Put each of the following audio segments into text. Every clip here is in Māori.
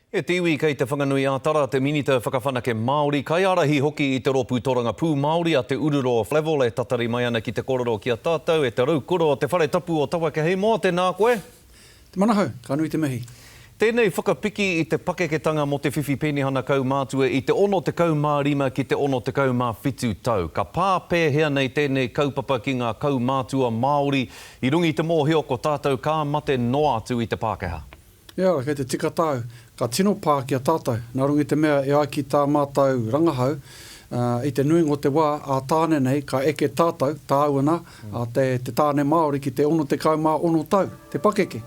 E te iwi kei Te Whanganui-ā-Tara te Minita Whakawhanake Māori, kaiārahi hoki i te rōpū torangapū Māori a Te Ururo Flavell e tatari mai ana ki te kōrero ki a tātou e te Raukura o Te Whare Tapu o Tawakehei mō Tēnā koe! Te Manahau, ka nui te mihi. Tēnei whakapiki i te pakeketanga mō te whiwhi penihana kaumātua i te 65 ki te 67 tau. Ka pā pēhea nei tēnei kaupapa ki ngā kaumātua Māori i runga i te mōhio ko tātou ka mate noa atu i te Pākehā? E ara, kei te tika tāu, ka tino pā ki a tātou, nā runga i te mea e ai ki tā mātou rangahau, ā, i te nuinga o te wā, ā Tāne nei, ka eke tātou, tāu ana, ā, te, te Tāne Māori ki te 66 tau, te pakeke,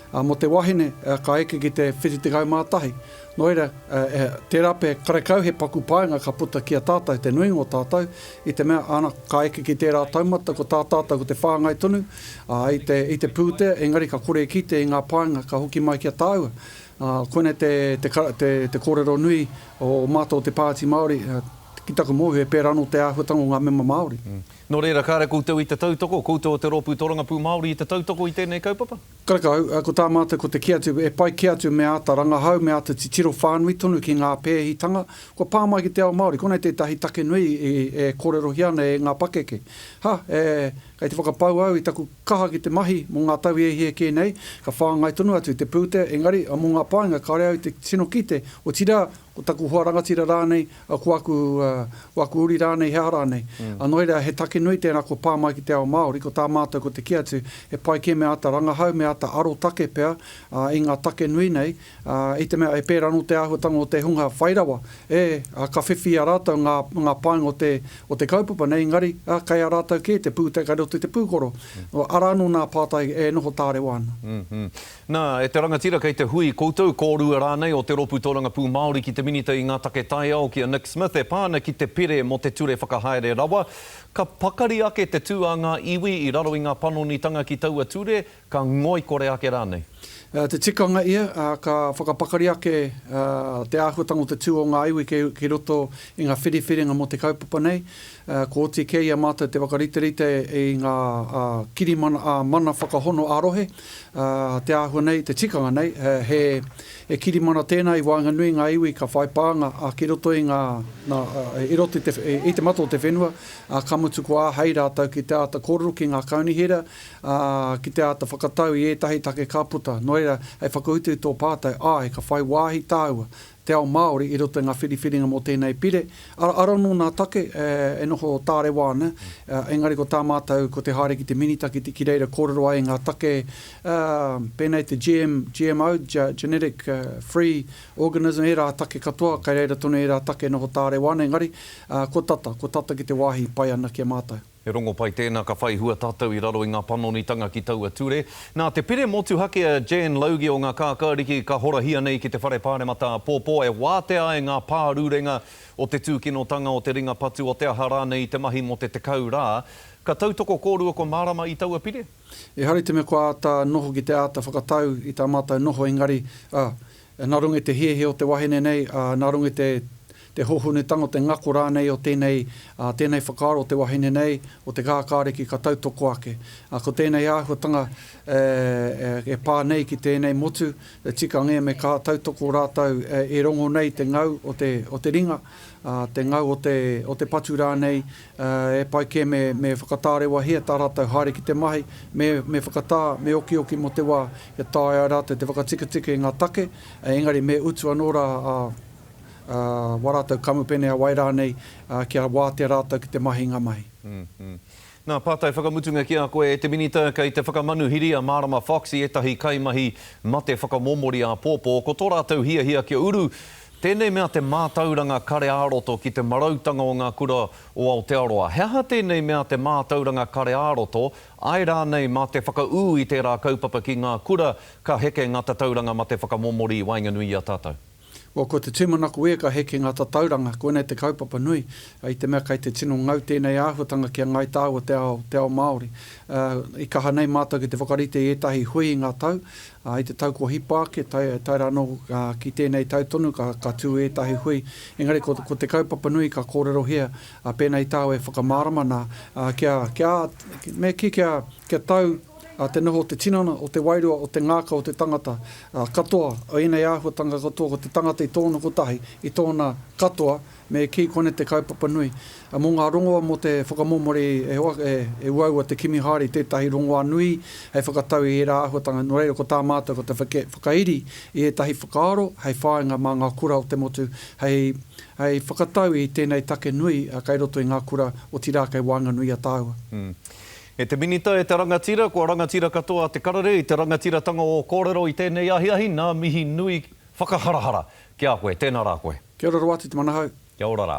ā, mō te wahine, ā, ka eke ki te 71. Nō reira, ā, e, tērā pea, karekau he paku painga ka puta ki a tātou, te nuinga o tātou, i te mea, ana, ka eke ki tērā taumata, ko tā tātou ko te whāngai tonu, ā, i te pūtea, engari ka kore e kite i ngā painga ka hoki mai ki a tāua. Ā, koinei te, te, te, te kōrero nui o mātou te Pāti Māori, ki taku mōhio he pērā anō te āhuatanga o ngā mema Māori. Nō reira, kāre koutou i te tautoko, koutou o te Rōpū Torangapū Māori i te tautoko i tēnei kaupapa? Karekau, ko tā mātou ko te kī atu, e pai kē atu me āta rangahau, me āta titiro whānui tonu ki ngā pēhitanga kua pā mai ki te ao Māori. Konei tētahi take nui e kōrerohia ana e ngā pakeke. Ha, e, Kei te whakapau au i taku kaha ki te mahi mō ngā tau hiahia kē nei, ka whāngai tonu atu te pūtea, engari, mō ngā painga kāore au i te tino kite, otirā, ko taku hoa rangatira rānei, ko aku, ko aku uri rānei, he aha rānei. Nā noa iria, he take nui tērā kua pā mai ki te ao Māori, ko tā mātou ko te kī atu, he pai kē me āta rangahau, me āta arotake pea i ngā take nui nei, Ā, i te mea e pērā anō te āhuatanga o te hunga whai rawa, ē, ā, ka whiwhi i a rātou ngā, ngā painga o te, o te kaupapa nei, engari, ā, kei a rātou kē te pūtea kei roto i te pūkoro. Arā anō nā pātai e noho tārewa ana. Nā, e te rangatira kei te hui koutou, kōrua rānei o te Rōpū Tōrangapū Māori ki te Minita i ngā Take Taiao, ki a Nick Smith, e pā ana ki te pire mō te ture whakahaere rawa, ka pakari ake te tū a ngā iwi i raro i ngā panonitanga ki taua ture, Ka ngoikore ake rānei. Te tikanga ia, ā, ka whakapakari ake te āhuatanga o te tū o ngā iwi ki roto i ngā whiriwhiringa mō te kaupapa nei. Kua oti kē i a mātou te whakariterite i ngā kirimana ā-mana whakahono ā-rohe. Te āhua nei, te tikanga nei, he kirimana tēnā i waenganui i ngā iwi ka whai pānga ki roto i ngā, i roto i te mato o te whenua, ā, ka mutu kua āhei rātou ki te āta kōrero ki ngā kaunihera, ā, ki te āta whakatau i ētahi take ka puta, nō reira, hei whakautu i tō pātai, āe, ka whai wāhi tāua, te ao Māori, i roto i ngā whiriwhiringa mō tēnei pire, arā, arā anō nā take e noho tārewa ana, engari ko tā mātou, ko te haere ki te Minita, ki te, ki reira kōrero ai ngā take, ā, pēnei te GM, GMO, Genetic, Free, Organism, ērā take katoa, kei reira tonu ērā take e noho tārewa ana, engari, ā, ko tata, ko tata ki te wāhi i pai ana ki a mātou. He rongopai tēnā ka whai hua tātou i raro i ngā panonitanga ki taua ture. Nā te pire motuhake a Jan Logie o ngā Kākāriki ka horahia nei ki te Whare Pāremata āpōpō e wātea ai ngā pārurenga o te tūkinotanga, o te ringa patu, o te aha rānei i te mahi mō te tekau rā. Ka tautoko kōrua kua mārama i taua pire. Ehara i te mea kua āta noho ki te āta whakatau i tā mātou noho engari, ā, Nā runga i te hehe o te wahine nei, nā runga i te te hōhonutanga o te ngako rānei o tēnei tēnei whakaaro o te wahine nei, o te kākāriki ka tautoko ake. Ko tēnei āhuatanga e pā nei ki tēnei motu, tika ngē me kā tautoko rātou e rongo nei te ngau o te o te ringa, te ngau o te, o te patu rānei, e pai kē me, me whakatarewahia tā rātou haere ki te mahi, me, me whakatā, me okioki mō te wā kia taea rātou te whakatiketike i ngā take, engari me utu anō rā a, a, wā rātou kamupene, a wai rānei, kia wātea rātou ki te mahi i ngā mahi. Ngā pātai whakamutunga ki a koe e te Minita Kei te whakamanuhiri a Mārama Fox i ētahi kaimahi mate whakamōmori āpōpō Ko tō rātou hiahia kia uru tēnei mea te mātauranga kare ā-roto ki te marautanga o ngā kura o Aotearoa He aha tēnei mea te mātauranga kare ā-roto āe rānei mā te whakaū i tērā kaupapa ki ngā kura ka heke ngā tatauranga mate whakamōmori i waenganui i a tātou? Ua ko te tūmanako ia ka heke ngā tatauranga, koinei te kaupapa nui, i te mea kei te tino ngau tēnei āhuatanga ki a Ngāi Tāu o te ao, te ao Māori. I kaha nei mātou ki te whakarite i ētahi hui i ngā tau, ā, i te tau kua hipa ake, tae, tae rā anō ki tēnei tau tonu ka, ka tū ētahi hui, engari ko, ko te kaupapa nui ka kōrerohia pēnei tāu e whakamārama nā, ā, kia, kia, me kī kia, kia tau, ā, te noho o te tinana, o te wairua, o te ngākau o te tangata, ā, katoa, o ēnei āhuatanga katoa ko te tangata i tōna kotahi, i tōna katoa, me kī kone te kaupapa nui. Ā, mō ngā rongoa mō te whakamomori e hoa, e, e uaua te kimi haere i tētahi rongoā nui hei whakatau i ērā āhuatanga, nō reira ko tā mātou ko te whake, whakairi i ētahi whakaaro hei whāinga mā ngā kura o te motu hei, hei whakatau i tēnei take nui kei roto i ngā kura, otirā kei waenganui i a tāua. E te Minita, e te Rangatira, kua rangatira katoa te karere i te rangatiratanga o kōrero i tēnei ahiahi, nā mihi nui whakaharahara ki a koe. Tēnā rā koe. Kia ora Roati te manahau. Kia ora rā.